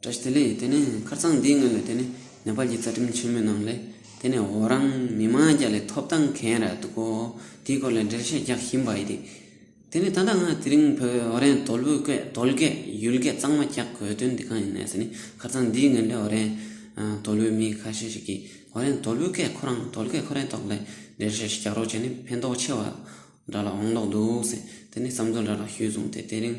བཀྲ་ཤིས་ལེགས་དེ་ནི་ཁར་ཚང་འདིའི་ངོས་ནས་དེ་ནི་ནེ་པལ་གྱི་རྩ་ཁྲིམས་ཆེན་མོའི་ནང་ལས་དེ་ནི་འོ་རང་མི་མང་རྒྱ་ལས་ཐོབ་ཐང་གན་ར་འདུག་གོ་དེའི་སྐོར་ལས་འགྲེལ་བཤད་རྒྱག་བཞིན་པ་ཡི་དེ་དེ་ནི་ད་ལྟ་ང་དེ་རིང་བོད་འོ་རན་དོལ་བོའི་སྐད་དོལ་སྐད་ཡུལ་སྐད་གཙང་མ་རྒྱག་དགོས་དོན་དེ་གང་ཡིན་ནས་ཟེར་ནི་ཁར་ཚང་འདིའི་ངོས་ནས་འོ་རན་དོལ་བོའི་མི་ཁ་ཤས་ཤིག་གིས་འོ་རན་དོལ་བོའི་སྐད་ཁོ་རང་དོལ་སྐད་ཁོ་རན་ཐོག་ལས་འགྲེལ་བཤད་ཞིག་རྒྱག་རོགས་བྱས་ནི་ཕན་ཐོག་ཆེ་བ་འདྲ་ལ་འོང་ལོག་འདུག་ཟེར་དེ་ནི་བསམ་ཚུལ་འདྲ་ལ་ཞུས་སོང་དེ་དེ་རིང་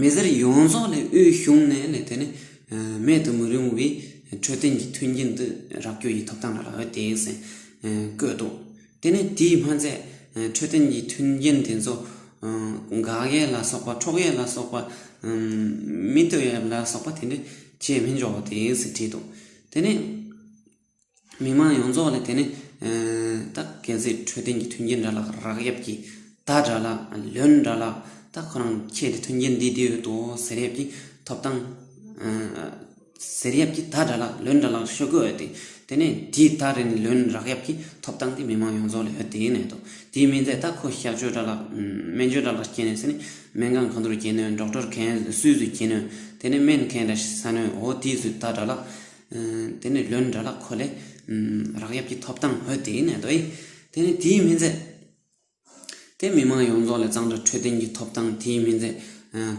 མི་སེར་ཡོངས་རྫོགས་ལས་དབུས་གཞུང་ནས་ལས་དོན་མེད་དུ་མི་རུང་བའི་འཕྲོད་བསྟེན་གྱི་མཐུན་རྐྱེན་དུ་རག་རྒྱུ་ཡི་ཐོབ་ཐང་ལ་རག་ཡོད་དེ་ཟེར་བཀོད་འདུག་དེ་ནི་དེའི་སྨན་རྫས་འཕྲོད་བསྟེན་གྱི་མཐུན་རྐྱེན་དེ་ཚོ་འགག་ཡས་ལ་སོགས་པ་འཕྲོག་ཡས་ལ་སོགས་པ་མི་སྡོད་ཡས་ལ་སོགས་པ་དེ་འདྲས་བྱས་མི་འཇོག་དེ་ཟེར་བྲིས་འདུག་དེ་ནི་མི་དམངས་ཡོངས་རྫོགས་ལ་དེ་ནི་ད་གལ་སྲིད་འཕྲོད་བསྟེན་གྱི་མཐུན་རྐྱེན་འདྲ་ལགས་རག་གཡབ་ཀྱི་ད་འདྲ་ལགས་ལོན་འདྲ་ལགས་ད་ཁོ་རང་ཁྱེད་ཀྱི་མཐུན་རྐྱེན་འདི་འདི་ཡོད་དོ་ཟེར་ཡབ་ཀྱི་ཐོབ་ཐང་ཟེར་ཡབ་ཀྱི་ད་འདྲ་ལགས་ལོན་འདྲ་ལགས་ཤོད་དགོས་ཏེ་དེ་ནས་དེ་ད་རེ་ནས་ལོན་རག་གཡབ་ཀྱི་ཐོབ་ཐང་དེ་མི་དམངས་ཡོངས་རྫོགས་ལ་ཡོད་དེའི་གནད་དོ་དེའི་མིན་ཚད་ད་ཁོ་བཤའ་བཅོས་འདྲ་ལགས་སྨན་བཅོས་འདྲ་ལགས་སྐྱེ་ནས་ཟེར་ནས་སྨན་ཁང་གང་དུ་རུ་སྐྱེ་ནོན་འགྲོགས་འཕྲོར་གན་སུས་སུས་སྐྱེ་ནོན་དེ་ནས་སྨན་མཁན་འདྲ་ཟ་ནོན་འོ་དེའི་སུས་ད་འདྲ་ལགས་དེ་ནས་ལོན་འདྲ་ལ་ཁོ་ལས། རག་ཡབ་ཀྱི་ཐོབ་ཐང་འོས་དེའི་ནད་དོ་ཡི། དེ་ནི་དེའི་མི་མཛད། དེ་མི་མང་ཡོངས་རྫོགས་ལས་གཙང་སྦྲ་འཕྲོད་བསྟེན་གྱི་ཐོབ་ཐང་དེའི་མི་མཛད།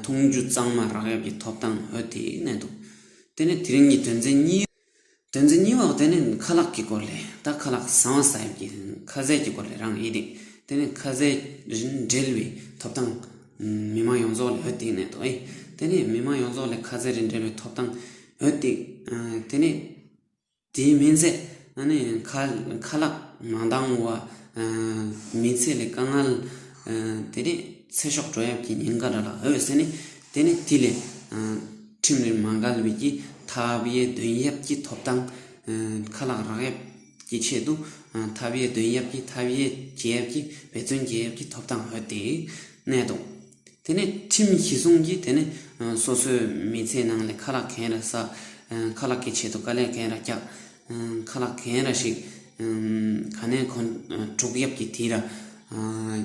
འཐུང་རྒྱུ་གཙང་མ་རག་ཡབ་ཀྱི་ཐོབ་ཐང་འོས་དེའི་ནད་དོ། དེ་ནི་དེ་རིང་གི་དོན་ཚན་གཉིས། དོན་ཚན་གཉིས་བ་དེ་ནི་ཁ་ལག་གི་སྐོར་ལས། ད་ཁ་ལག་བཟང་བ་ས་ཡབ་ཀྱི་ཁ་ཟས་ཀྱི་སྐོར་ལས་རང་ཡིད་དེ། དེ་ནི་ཁ་ཟས་རིན་བྲལ་བའི་ཐོབ་ཐང། མི་མང་ཡོངས་རྫོགས་ལས་འོས་དེའི་ནད་དོ་ཡི། དེ་ནི་མི་མང་ཡོངས་རྫོགས་ལས་ཁ་ཟས་རིན་བྲལ་བའི་ཐོབ་ཐང། འོད་ཐིག། དེ་ནས་དེའི་སྨིན་ཚད་ནི་ཁ་ལག་མ་འདང་བ། མི་ཚེ་ལས་དཀའ་ངལ། དེ་ནས་ཚེ་ཤོག་བྲོ་ཡབ་ཀྱི་ཉེན་ཁ་འདྲ་ལ་འོད་ཟེར་ནི། དེ་ནི་དུས་ལས་ཁྲིམས་རིན་མ་འགལ་བའི་ཀྱི་ཐབས་དབྱེ་དོན་ཡབ་ཀྱི་ཐོབ་ཐང། ཁ་ལག་རག་ཡབ་ཀྱི་ཆེད་དུ་ཐབས་དབྱེ་དོན་ཡབ་ཀྱི་ཐབས་དབྱེ་རྒྱལ་ཡབ་ཀྱི་འབད་བརྩོན་རྒྱལ་ཡབ་ཀྱི་ཐོབ་ཐང་འོད་ཐིག། གནད་དུ། དེ་ནས་ཁྲིམས་གཞི་བཟུང་གིས་དེ་ནས་སོ་སོའི་མི་ཚེའི་ནང་ལས་ཁ་ལག་གན་ར་བསགས། ཁ་ལག་གི་ཆེད་དུ་དཀའ་ལས་གན་ར་བཀྱགས། ཁ་ལག་གན་ར་ཞིག་ག་ནས་གོན། དྲུག་ཡབ་ཀྱི་དྷི་ར་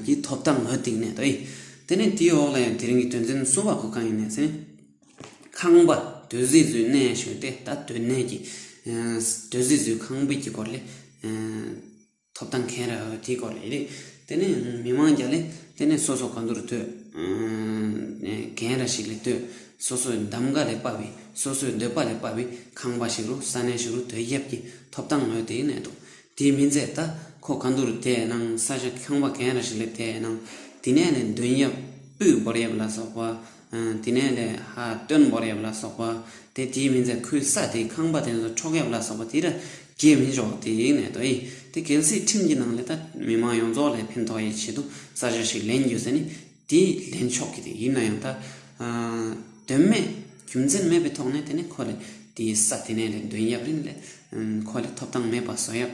གྱི་ཐོབ་ཐང་འོས་བསྡིགས་ནས་དོའི། དེ་ནས་དེའི་འོག་ལས་དེ་རིང་གི་དོན་ཚན་གསུམ་པ་གོ་གང་ཡིན་ནས་ཟིན། ཁང་པ་དོད་བཟི་བཟོའི་གནས་ཞུས་ཏེ་ད་དོད་གནས་ཀྱི་དོད་བཟི་བཟོའི་ཁང་པའི་དཀྱིལ་འཁོར་ལས། ཐོབ་ཐང་ཁེ་རག་དེའི་སྐོར་ཡིན། དེ་ནས་མི་དམངས་ཀྱང་ལས་དེ་ནས་སོ་སོ་ག་འདུ་རུ་བསྟོད། གན་ར་ཞིག་ལས་བསྟོད། སོ་སོའི་གདམ་ག་ལས་དཔའ་བའི་སོ་སོའི་འདོད་པ་ལས་དཔའ་བའི་ཁང་པ་ཞིག་རུ་ས་གནས་ཞིག་རུ་དོལ་རྒྱབ་ཀྱི་ཐོབ་ཐང་ངོས་དེའི་གནད་དོ། དེའི་མི་མཛད་ད་ཁོ་ག་འདུ་རུ་དེ་ནང་ས་ཞིག་ཁང་པ་གན་ར་ཞིག་ལས་དེའི་ནང་དེ་ནས་ལས་མདུན་ཡབ་སྤུས་འབོར་ཡབ་ལ་སོགས་པ་དེ་ནས་ལས་ཧ་སྟོན་འབོར་ཡབ་ལ་སོགས་པ་དེ་དེའི་མི་ཚེ་ཁུལ་ས་དེའི་ཁང་པ་དེ་ཚོ་འཕྲོག་ཡབ་ལ་སོགས་པ་དེ་ར་གྱེས་མི་ཆོག་དེ་ཡིན་ནས་དོ་ཡིན་དེ་གལ་སྲིད་ཁྲིམས་ཀྱི་ནང་ལས་ད་མི་མང་ཡོངས་རྫོགས་ལས་ཕན་ཐོགས་ཡི་ཆེད་དུ་ས་ཆ་ཞིག་ལེན་རྒྱུ་ཟེར་ནི་དེ་ལེན་ཆོག་གི་དེ་ཡིན་ན་ཡང་ད་དོན་མེད་རྒྱུ་མཚན་མེད་པའི་ཐོག་ནས་དེ་ནས་ཁོ་ལས་དེའི་ས་དེ་ནས་ལས་འདོན་ཡབ་རིན་ལས་ཁོ་ལས་ཐོབ་ཐང་མེད་པ་བཟོ་ཡབ་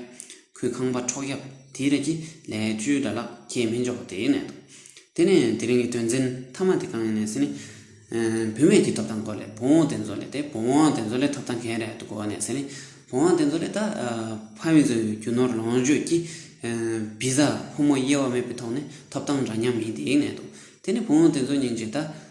ཁོའི་ཁང་པ་འཕྲོག་རྒྱབ་དེའི་རིགས་ཀྱི་ལས་བཅོལ་དགྲ་ལག་ཁྱེར་མི་འཇོག་པ་དེའི་གནད་དོ། དེ་ནས་དེ་རིང་གི་དོན་ཚན་མཐའ་མ་དེ་གང་ཡིན་ནས་ཟེར་ནས། བུད་མེད་ཀྱི་ཐོབ་ཐང་སྐོར་ལས་བུ་འོང་དེ་འཛོ་ལེ་སྟེ་བུ་འོང་དེ་འཛོ་ལེ་ཐོབ་ཐང་གན་རེད་འདུག་གོ་ནས་ཟེར་ནས་བུ་འོང་དེ་འཛོ་ལེ་ད་ཕ་མི་འཛོལ་བའི་རྒྱུ་ནོར་ལོངས་སྤྱོད་ཀྱི་བི་ཟ་ཕོ་མོ་དབྱེ་བ་མེད་པའི་ཐོག་ནས་ཐོབ་ཐང་འདྲ་མཉམ་ཡིན་དེའི་གནད་དོ། དེ་ནས་བུ་འོང་དེ་འཛོ་ཉིན་གཅིག་ད།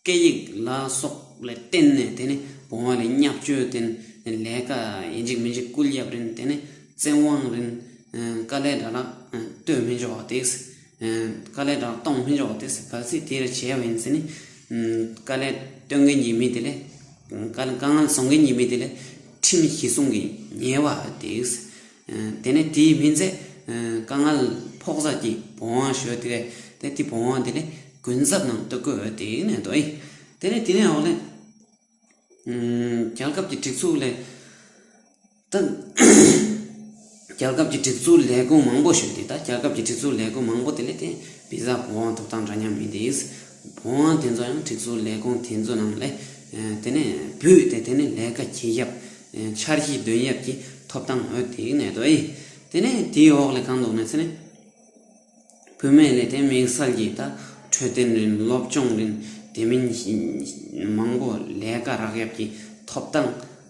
སྐད་ཡིག་ལ་སོགས་ལ་བརྟེན་ནས་དེ་ནི་བུང་བ་ལས་བསྙག་སྤྱོད་བསྟེན། ལས་ཀ་ཡིན་ཅིག་མིན་ཅིག་སྐུལ་གཡབ་རིན་དེ་ནི་བཙན་དབང་རིན། དཀའ་ལས་དྲག་ལ་བསྟོད་མི་འཇོག་བ་དེས། དཀའ་ལས་དྲག་གཏོང་མི་འཇོག་བ་དེས་གལ་སྲིད་དེ་རེ་བྱས་པ་ཡིན་ཚེ་ནི། དཀའ་ལས་བསྟོད་མཁན་གྱི་མི་དེ་ལས། དཀའ་ངལ་བཟོ་མཁན་གྱི་མི་དེ་ལས་ཁྲིམས་གཞི་སྲུང་གི་ཉེས་པ་དེས། དེ་ནས་དེའི་སྨིན་མཛད་དཀའ་མངལ་ཕོག་ས་ཀྱི་བོང་བ་ཞོས་ཏེ། དེ་དེ་བོང་བ་དེ་ལས་གུན་གསབ་ནང་བསྟོད་བསྐོས་འོས་ཏེ་ནས་དོ་ཨི། དེ་ནས་དེ་ནས་འོག་ལས། རྒྱལ་ཁབ་ཀྱི་སྒྲིག་འཛུགས་ལས། ད། རྒྱལ་ཁབ་ཀྱི་སྒྲིག་འཛུགས་ལས་ཁུངས་མང་པོ་ཞོས་ཏེ་ད་རྒྱལ་ཁབ་ཀྱི་སྒྲིག་འཛུགས་ལས་ཁུངས་མང་པོ་དེ་ལས་དེ་བི་ཟ་བོང་བ་ཐོབ་སྟངས་འདྲ་མཉམ་མིན་ཏེ། བོང་བ་དེ་ཚོ་ཡང་སྒྲིག་བཟོ་ལས་ཁུངས་དེ་ཚོ་ནང་ལས་དེ་ནས་བུད་དེ་དེ་ནས་ལས་ཀ་གྱིས་ཡབ། འཆར་གཞི་འདོན་ཡབ་ཀྱི་ཐོབ་ཐང་འོད་དེ་གནས་དོ་ཨེ། དེ་ནས་དེའི་འོག་ལས་གང་འདུག་ནས་ཚེ་ནས། བུད་མེད་ལས་དེ་དམིགས་བསལ་གྱིས་ད་འཕྲོད་བསྟེན་རིན་སློབ་སྦྱོང་རིན་དེ་མིན་མང་པོ་ལས་ཀ་རག་ཡབ་ཀྱི་ཐོབ་ཐང།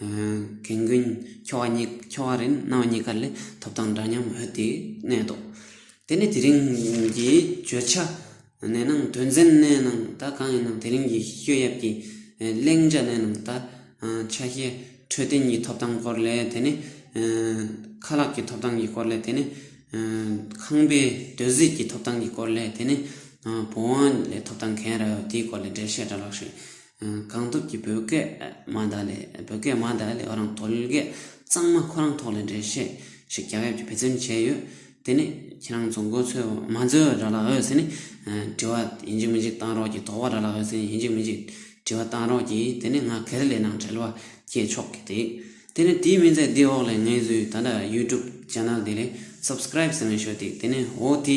གན་རྒོན་ཁྱོ་བ་གཉིས་ཁྱོ་བ་རེད་ནང་བ་གཉིས་ཀ་ལས་ཐོབ་ཐང་འདྲ་མཉམ་འོས་དེ་གནས་ཐོག་དེ་ནས་དེ་རིང་གི་བརྗོད་བྱ་གནས་ནང་དོན་ཚན་གནས་ནང་ད་གང་ཡིན་ནམ་དེ་རིང་གི་བཤོད་ཡབ་ཀྱི་གླེང་བྱ་གནས་ནང་ད་ཆ་ཤེས་འཕྲོད་བསྟེན་གྱི་ཐོབ་ཐང་སྐོར་ལས་དེ་ནས་ཁ་ལག་གི་ཐོབ་ཐང་གི་སྐོར་ལས་དེ་ནས་ཁང་པའི་རྡོས་བཟེད་ཀྱི་ཐོབ་ཐང་གི་སྐོར་ལས་དེ་ནས་བུང་བ་ལས་ཐོབ་ཐང་གན་རེད་འོས་དེའི་སྐོར་ལས་འགྲེལ་བཤད་འདྲ་ལགས་ཤིག་གང་ཐུབ་ཀྱིས་བོད་སྐད་མ་དག་ལས་བོད་སྐད་མ་དག་ལས་རང་དོལ་སྐད་གཙང་མ་ཁོ་རང་ཐོག་ལས་འགྲེལ་བཤད་ཞིག་རྒྱག་ཡབ་ཀྱི་བེད་ཙེམ་བྱས་ཡོད་དེ་ནི་ཁྱེད་རང་ཚོ་མགོ་ཚོས་མ་འཛོལ་བའི་ར་ལ་འོས་ཟེར་ནི་དྲི་བ་ཡིན་གཅིག་མིན་གཅིག་བཏང་རོགས་གྱིས་དོག་བ་ར་ལ་འོས་ཟེར་ནི་ཡིན་གཅིག་མིན་གཅིག་དྲི་བ་བཏང་རོགས་གྱིས་དེ་ནི་ང་གལ་ལེ་ནང་བྲེལ་བ་སྐྱེས་ཆོག་གི་འདིག་དེ་ནི་དེའི་མིན་ཚད་འདི་འོག་ལས་ངའི་ཟུའི་ད་ལྟ YouTube Channel འདི་ལས Subscribe ཟེར་ནས་ཤོད་འདིག་དེ་ནི་འོ་དེ།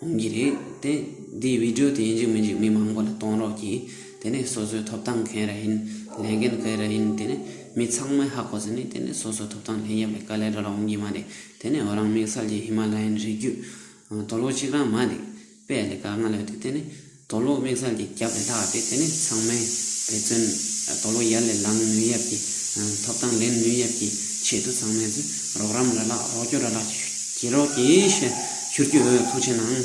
གནང་གི་རེད་དེ། འདིའི་བིད་འགྲོ་དེ་འཇིགས་མི་འཇིགས་མི་མང་པོ་ལ་གཏོང་རོགས་གྱིས་དེ་ནས་སོ་སོའི་ཐོབ་ཐང་གན་ར་ཡིན་ལས་འགན་ག་ར་ཡིན་དེ་ནས་མི་ཚང་མའི་ཧ་གོ་ཟིན་ནས་དེ་ནས་སོ་སོའི་ཐོབ་ཐང་ལེན་ཡབ་ལས་ཀ་ལས་འགྲོ་ལ་འོང་གི་མ་རེད་དེ་ནས་འོ་རང་དམིགས་བསལ་གྱི་ཧི་མ་ལ་ཡན་རི་རྒྱུད་དོ་ལོ་གཅིག་རང་མ་འདེགས་པས་ལས་ཀ་སྔ་ལོད་དེ་དེ་ནས། དོ་ལོ་དམིགས་བསལ་གྱི་རྒྱབ་རི་དྭགས་ཏེ་དེ་ནི་ཚང་མས་འབད་བརྩོན་དོ་ལོ་ཡར་ལས་ལངས་ནུས་ཡབ་ཀྱི་ཐོབ་ཐང་ལེན་ནུས་ཡབ་ཀྱི་ཆེད་དུ་ཚང་མས་རོགས་རམ་ར་ལག་རོགས་སྐྱོར་ར་ལག་བྱེད་རོགས་ཀྱིས་ཞུ་རྒྱུ་ཐུགས་ཆེ་གནང།